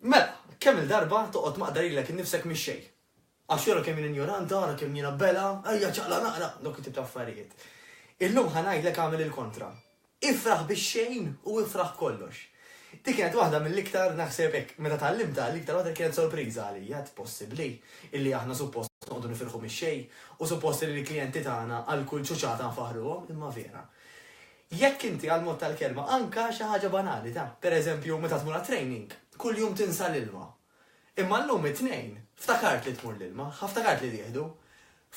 Mela, kemm-il darba toqgħod maqda lilek innifsek mix-xejn? Għax ara kemm jien injoranta, ara kemm jiena bela, ejja ċaqla' naqra, dawk it-tip ta' affarijiet. Illum ħa ngħidlek agħmel il-kontra. Ifraħ bix-xejn u ifraħ b'kollox. Dik kienet waħda mill-iktar, naħseb hekk, meta tgħallimtha, l-iktar waħda li kienet sorpriża għalija, għedt possibbli illi aħna suppost noqogħdu nifirħu mix-xejn u suppost illi l-klijenti tagħna għal kull ċuċata nfaħħruhom, imma vera. Jekk inti għall-mod tal-kelma anka xi ħaġa banali ta', per eżempju, meta tmur għat-training, kuljum tinsa l-ilma. Imma llum it-Tnejn, ftakaart li tmur l-ilma, ħa ftakaart li tieħdu.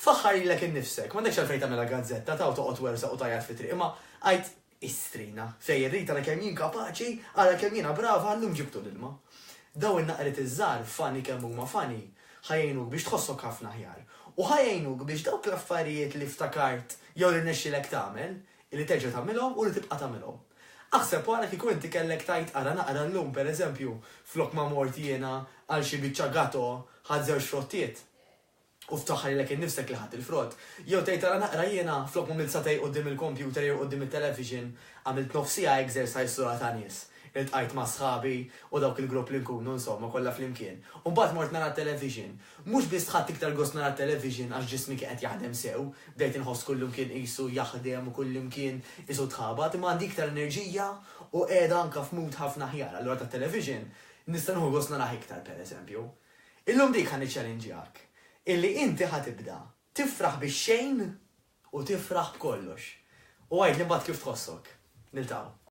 Faħħar lilek innifsek, m'għandekx għalfejn tagħmilha gazzetta ta' u toqgħod twersaq u tgħajjat fit-triq, imma għid, Istrina, sejjer rit ara kemm jien kapaċi, ara kemm jiena brava, llum ġibtu l-ilma. Dawn in-naqriet iż-żgħar, funny kemm huma funny, ħa jgħinuk biex tħossok ħafna aħjar. U ħa jgħinuk biex dawk l-affarijiet li ftakart jew li rnexxielek tagħmel, Li terġa' tagħmilhom u li tibqa' tagħmilhom. Aħseb ara kieku inti kellek tgħid ara naqra llum, pereżempju, flok ma mort jiena għal xi biċċa gato ħadt żewġ frottiet u ftaħħar lilek innifsek li ħadt il-frott, jew tgħid ara naqra jiena flok m'għamilt sagħtej quddiem il-kompjuter jew quddiem it-television għamilt nofs siegħa exercise sura ta' nies, iltqajt ma' sħabi u dawk il-grupp li nkunu insomma kollha flimkien u mbagħad mort nara t-television Mhux biss ħadt iktar gost nara t-television għax ġismi kien qed jaħdem sew, bdejt inħoss kullimkien qisu jaħdem u kullimkien qisu tħabat, imma għandi iktar enerġija u qiegħda anke f'mood ħafna aħjar, allura tat-television nista' nieħu gost narah iktar pereżempju. Illum dik ħa niċċalinġjak, illi inti ħa tibda tifraħ bix-xejn u tifraħ b'kollox. U għidli mbagħad kif tħossok. Niltaqgħu.